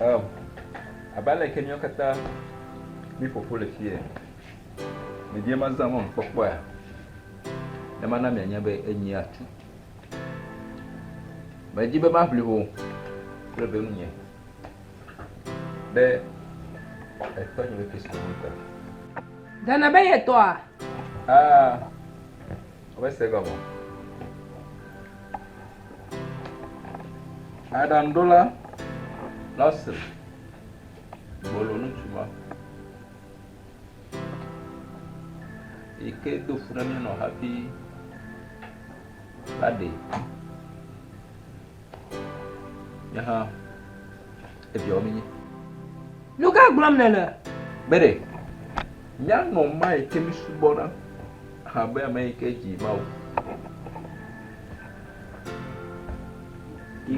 Um, abe aleke míawo katã míƒoƒo le fie. Ɖevia ma zã mɔnukpɔkpɔa, ne mana mianya be enyi atu. Medzi be maʋli ho kple be nunye ɖe etɔ nye be Kristo ŋu ta. Dana be yetɔa? Ah. Womese egɔme o. Aɖaŋuɖola Lawson gbolo ŋutsu ma yi ke do fu ɖe mí nɔ hafi la ɖee. Nyahã, eviawo mi nyi. Nu ka gblɔm nèle? Bede, míanɔ ma yi ke mísubɔna abe ame yi ke dzi Mawu.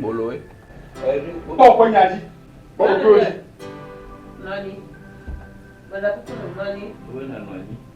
Boloe. Kpɔ ƒe nya dzi. Kpɔ ƒe nya dzi. Nɔnyi. Mele kuku nɔ nɔnyi. Wo nɔ nɔnyi.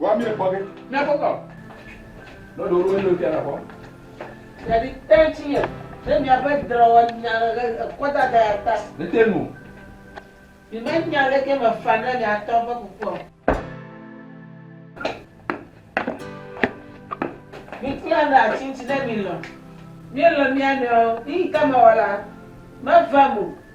Wa mi ekpɔ ge. Ne kpɔtɔ. Ne ɖo ɖo yio tia na kpɔ. Yadi ten ti ye. Ne mi abe dra wa nya le ekɔ da da ya ta. Ne te nu. Mi ma nya le ke me fa ne mi atɔ be kukua. Mi kula na ti ti ne mi lɔ. Mi lɔ mi anɔ. Ni kama wala. Ma va mo.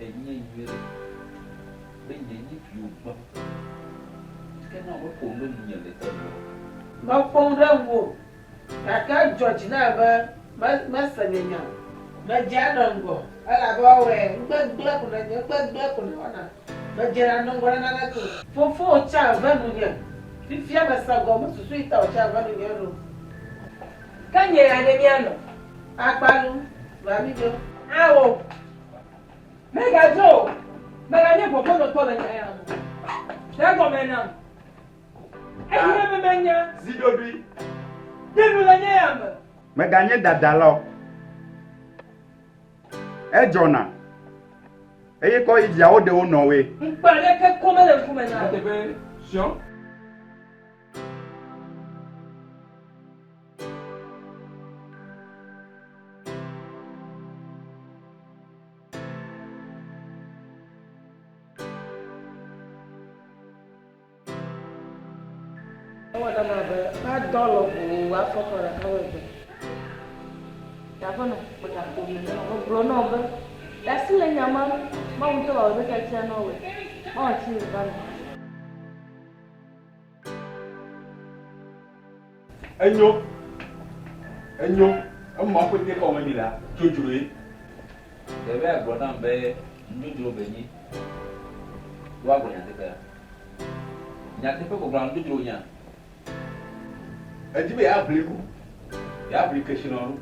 Enye nyuiɖe be nye nyi viwo gbɔ, ke ne wome ƒo nu ɖe ŋunye le te me o. Mekpɔm ɖe ŋuwò, gake edzɔ dzi nam be mese nye nya o. Medze anɔ ŋgɔ, elabe woawɔe, ŋugbegblẽ ko nènye, ŋugbegblẽ ko nèwɔna, medzena anɔ ŋgɔ ɖe naneke o. Fofowò tsa ve nunye, fifia mese gɔme, mesusui ŋutɔ o tsa ve nunye eɖo. Ke nye ya ɖe míanɔ akpa lum, va míɖo. Ao! Mègadzo o, mèganye gbɔgbɔnɔtɔ le nya ya ŋu o. Ɖe egɔme nam, eye mèmenya zi ɖoɖoe ɖe nu le nya ya me. Mèganye dadala o. Edzɔna, eye kɔ yi viawo ɖe wo nɔwoe. Ŋukpe aɖeke ko mele ŋku me nam. Ewɔ nam abe madɔ lɔƒo afɔkɔ ɖeka megbe. Ɖa ƒe nɔ kpɔ ɖa ƒo me nɔ megblɔ nɔ be ɖa si le nya ma nu Mawu ŋutɔ wɔ ɖe tatsia nɔ wɛ. Mawu tsi le va nɔ. Enyo. Enyo. Ema ƒe te kɔme mi la, dzodzro ye. Ɖewe agblɔ nam be nudzodzro be nyi. Do agblɔ nyateƒea. Nyateƒe gbɔgblɔ na nudzodzro nya. Edi be yeaʋli ku. Yeaʋli keshinɔ nu.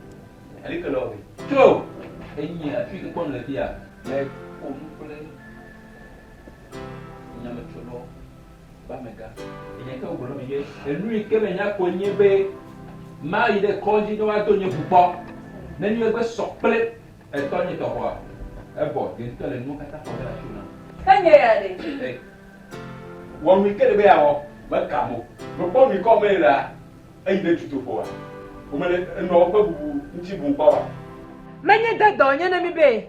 Eli ke le ɔvi. Tso! Enyi afi ke kpɔm le fia. Me ƒo nu kple nyametsonɔ Be amegã, enye ke wogblɔ na mi be, Enu yi ke menya koe nye be mayi ɖe kɔdzi ne woado nye ʋu kpɔ. Ne nye gbe sɔ kple etɔ nye tɔxɔa, ebɔ ye ŋutɔ le nuwo katã xɔ ge ɖe asiwò nam. Ke nye ya ɖe? Wɔ nu yi ke ele be yeawɔ. Meka mo. Mekpɔ nu yi ke wɔm ele la, eyi ɖe dutoƒoa. Womele enuawo ƒe bubu ŋuti bum kpɔ oa? Menye de dɔnye na mi be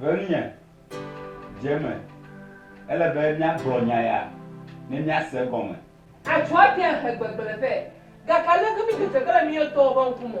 Ŋutinye dze eme. Ele be míagblɔ nya ya ne míase egɔme. Adzo ate ŋu ahe gbegblẽ vɛ, gake aleke míedzedze ge le mía ŋutɔwo ƒe ŋku me?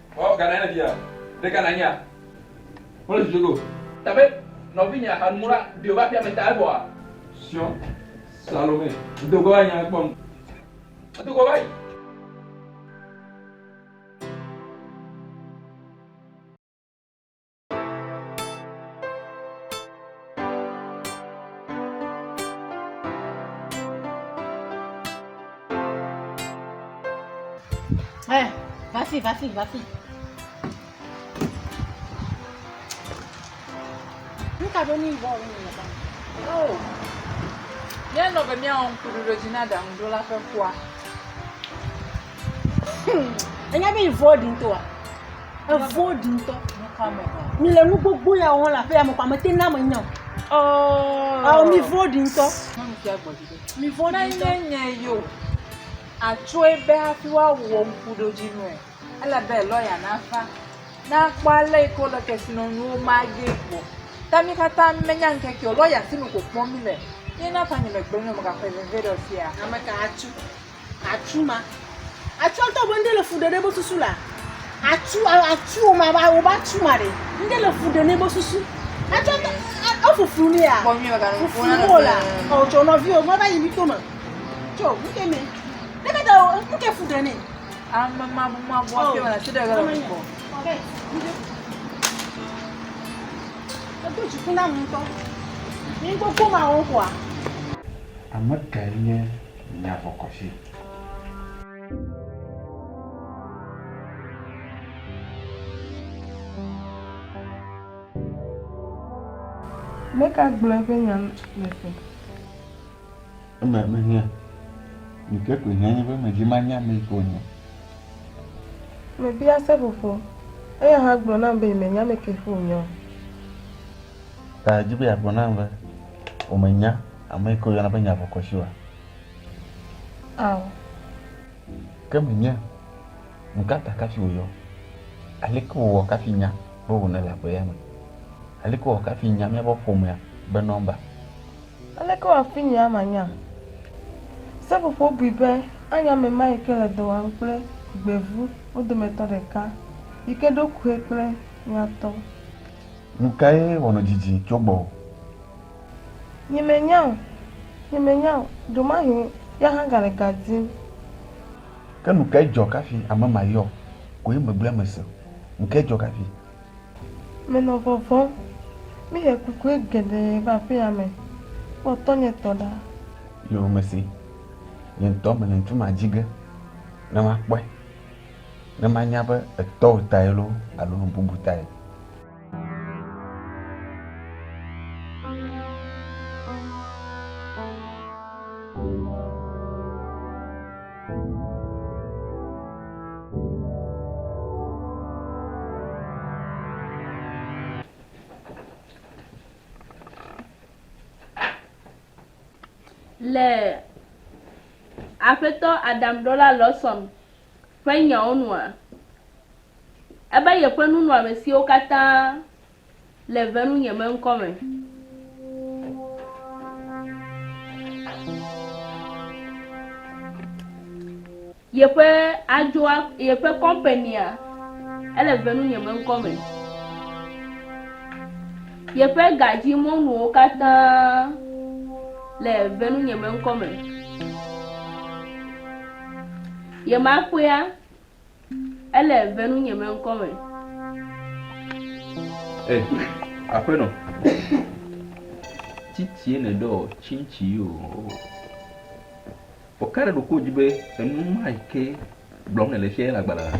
Ɔ gana ne bia ɖe gana nyea mo le susu go. Tabe nɔvinyea hanu la ɖio va aƒea me ta evɔa. Sion Salome do go va nyea kpɔ nu edo go va yi. Eh, va fi, va fi, va fi. Nu ka ɖo ni bɔ wo ni le ba? Oh. Míanɔ be míawɔ ŋkuɖoɖodzi na ɖaŋuɖola ƒe kua. Enya be yi vɔ ɖi ŋutɔa. Evɔ̃ɖi ŋutɔ. Mi le nu gbogbo ya wɔm le aƒeya me kɔa, mete ŋu na ame nya o. Ɔɔ. Ɔɔ mi vɔ̃ɖi ŋutɔ. Mi vɔ̃ɖi ŋutɔ. Ne nye nye yo, atsɔe be hafi woawɔ ŋkuɖodzinuɛ, ele be lɔya nava, ne akpɔ ale yi ke wole kesinɔnuwo ma ge gbɔ. Ta mi katã menya ŋkeke o, lɔya sinu ko kpɔm mile. Ye na ta nye megblɔ nɛ o, megakɔe veviɖe o fia. Ame ka atso? Atsu ma. Atsua ŋutɔ be ŋɖe le fu ɖe ɖe ebe susu la. Atsu atsu woma ba woba atsu ma ɖe. Ŋɖe le fu ɖe ne ebe susu. Atsua ŋutɔ efuflu ne ya. Fuflu wo la. Ɔ tsɔ nɔvi o me va yi mi to me. Tso ŋke me. Ne ke da o ŋke fu ɖe ne. Ame ma bu ma bu afi ma la ti ɖe ga le ko. Ɔbɛ. Edo dziku na mu ŋutɔ. Ni gbogbo ma wo kwa. Ame kae nye nya vɔkɔsi. Meka gblɔ eƒe nya le ƒe. Eme mehiã. Ɖeke koe hiã nye be medi manya ame yi ke wònye. Mebia seƒoƒo. Eya hã gblɔ nam be yemenya ame ke ƒe wònye o. Ta edi be yeagblɔ nam be wòmenya. Ame ke woyɔna be nyavɔkɔshi oa? Ao. Ke menye. Nukata kafi wòyɔ? Aleke wòwɔ kafi nya be wònele agbe ya me? Aleke wòwɔ kafi nya míaƒe ƒomea be nɔmba? Aleke wòwɔ hafi nye ama nya? Seƒoƒo bui be anye ame ma yi ke le dɔ wɔm kple gbevu wo dometɔ ɖeka, yi ke ɖo kue kple nyatɔ. Nukae wɔnɔ didi tso gbɔwò? Nyemenya o, nyemenya o, ɖemahe ya hã gale ga dim. Ke nu kae dzɔ kafi ame ma yɔ koe megblɔe mese o? Nu kae dzɔ kafi? Menɔ vɔvɔ̃m. Míhe kukue geɖe va aƒea me. Kpɔ tɔnye tɔ ɖa. Yoo, mesee. Nye ŋutɔ mele ŋutsu ma dzi ge ne makpɔe, ne manya be etɔwò tae loo alo nu bubu tae. Le Aƒetɔ Adam Ɖɔla Lawson ƒe nyawo nua? Ebe yeƒe nunɔamesiwo katã le ve nu nye me ŋkɔ me. Yeƒe adzoa, yeƒe kɔmpenia, ele ve nu nye me ŋkɔ me. Yeƒe gadzi mɔnuwo katã le ve nu nye me ŋkɔ me. Yemakpɔea, ele venu nye me ŋkɔ me. E, aƒenɔ, titie nèɖɔ tsintsi yi o. Vɔ ka ɖe ɖo ko dzi be enu ma yi ke gblɔm nèle fia ye le agbalẽ la?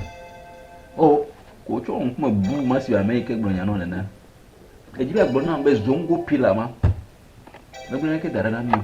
O, ko tsɔ wò ŋkume bu ma si ame yi ke gblɔ nya nɔ nena. Èdi be àgblɔ nam be Zongo Pillar ma megblɔ naneke da ɖa na mí o.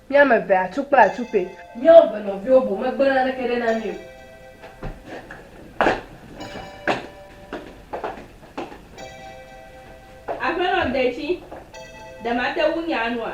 Mí ame eve atu kple atupe. Míawo eve nɔviwo boŋ megblẽ naneke ɖe na mí o. Aƒenɔ detsi, ɖe mate ŋu nya nua?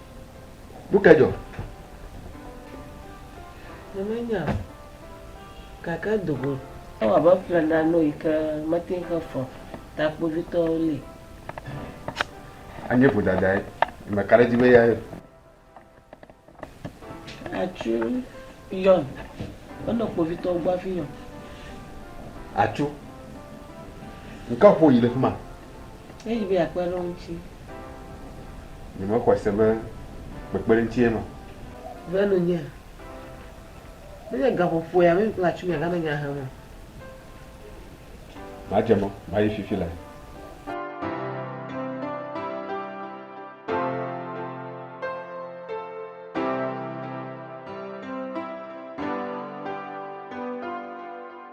Nu ka dzɔ? Nyemenya o, gake edo go. Ewɔ abe eƒle nane yi ke mete ŋu xe fɔ ta kpovitɔwo li. Anye vodadae. Meka ɖe edzi be eyae. Atsu yɔn. Enɔ kpovitɔwo gbɔ hafi yɔn. Atsu, ŋkɔ ƒo yi ɖe fi ma. Edi be yeakpe ɖe wo ŋuti. Nyemexɔe se be kpekpeɖeŋutsi ye ma. Be nunye. Menye gaƒoƒoe ame kple atsu mia gana nya hem o. Madze mɔ, mayi fifi lae.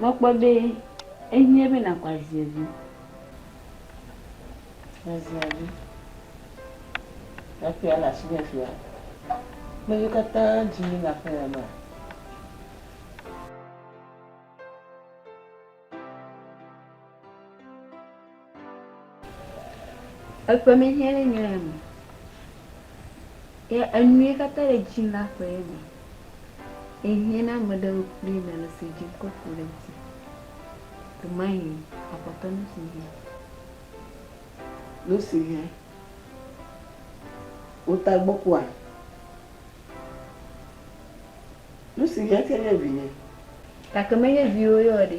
Mekpɔ be ehiã be nàkɔ azia dzi, azia dzi. Aƒea le asinye afia. Ame siwo katã dzi yim le aƒe ya mea? Eƒe mehiã ɖe nye ya me. Ye enu ye katã le dzi na ƒe ye me. Ehiã na ame ɖewo kple me le si dzi wokɔ ku le dzi. Domahin akpɔtɔ nu si hiã. Nu si hiã. Wota gbɔ kua. Nu si hiã tse nye vinye. Gake menye viwò ye o ɖe.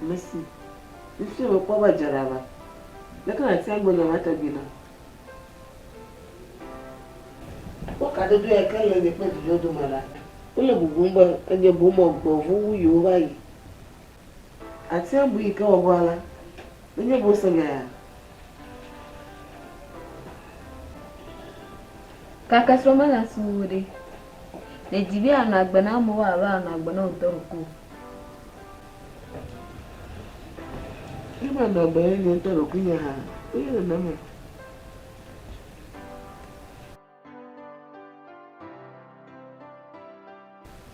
Mesi fifia mekpɔ be edze ɖa be leke nàtia ŋgɔ nya ma tɔgbi na. Ekpɔ kadodo ya ke le nye kple vinyewo dome ɖa. Wole bubum be enye boŋ mɔ gbevu wu yewoava yi. Àtia ŋgɔ yi ke wɔwɔ alea menye boŋ se nyae hã. Gake srɔ̃ mele si wu wò ɖe. Nèdi be ànɔ agbe na amewo abe ànɔ agbe na wò ŋutɔ ɖokui o. Ne manɔ agbe nye ŋutɔ ɖokuinye hã, wonye nenema.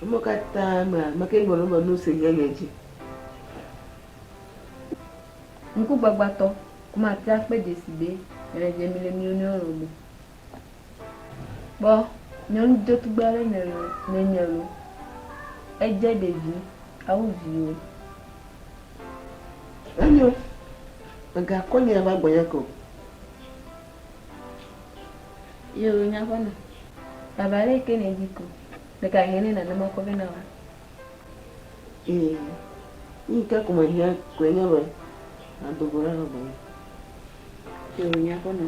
Eme katã me la, meke ŋgɔ nu be nu si nye nye dzi. Ŋkugbagbatɔ, Kuma tia kpe dzesi be, Mele dzem le mí nɔewo lɔ̃ me. Kpɔ nyɔnu dzetugbe aɖe nènye loo, èdze ɖevi awu viwò. Enyo, mègakɔ nye ava gbɔnye ke o. Yo, nye aƒenɔ, baba ɖe ke nèdi ko, ɖeka hɛn nɛ nàna makɔ vɛ na wòa? Ee, nu yi ke ko mehiã koe nye be nàdo go ɖa va gbɔnye. Yo, nye aƒenɔ.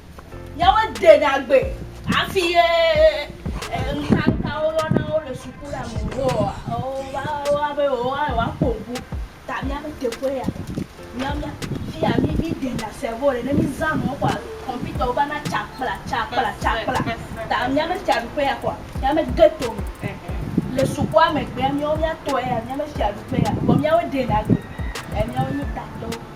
Yewɔ de ɖa gbe hafi ye ŋkaka wo yɔ na wo le suku la me wo wa wo wa be wo wa wa ko ŋku ta mía be teƒe ya. Mía mía fiya mi mi de ɖa sɛvo ɖe ne mi zã nɔ kɔa kɔmpita wo va na tsa kpla tsa kpla tsa kpla ta mía me fia ɖuƒe ya kɔa mía me ge to me. Le sukua me gbea mía wo mía tɔe ya mía me fia ɖuƒe ya vɔ mía wo de ɖa gbe e mía wo nyi tatɔwo.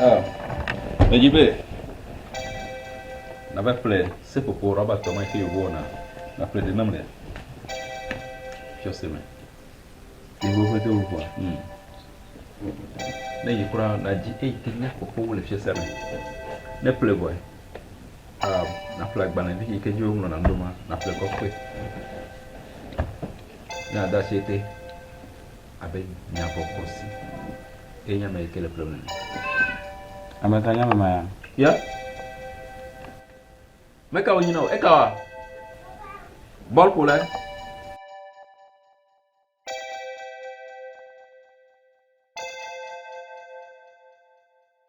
Ah, edzi be nava ƒle seƒoƒo rɔba tɔ ma ke yewo wɔna naƒle ɖe nam le fiase me. Yewo ƒe de wovɔ. Hmm. Ne yi kura nadzi eyi ke nya ƒoƒowo le fiase me. Ne ƒle vɔe. Ah, naƒle agbalẽ vi yi ke dzi woŋlɔ na ɖo ma naƒle kɔkɔe. Ne ada si te. abe nya bɔkɔ si ye nye ame yi ke le kplɔm ene. Ame ka nye ame ma ya? Ya? Meka wònyi na wò? Eka wa? Bɔlƒolae.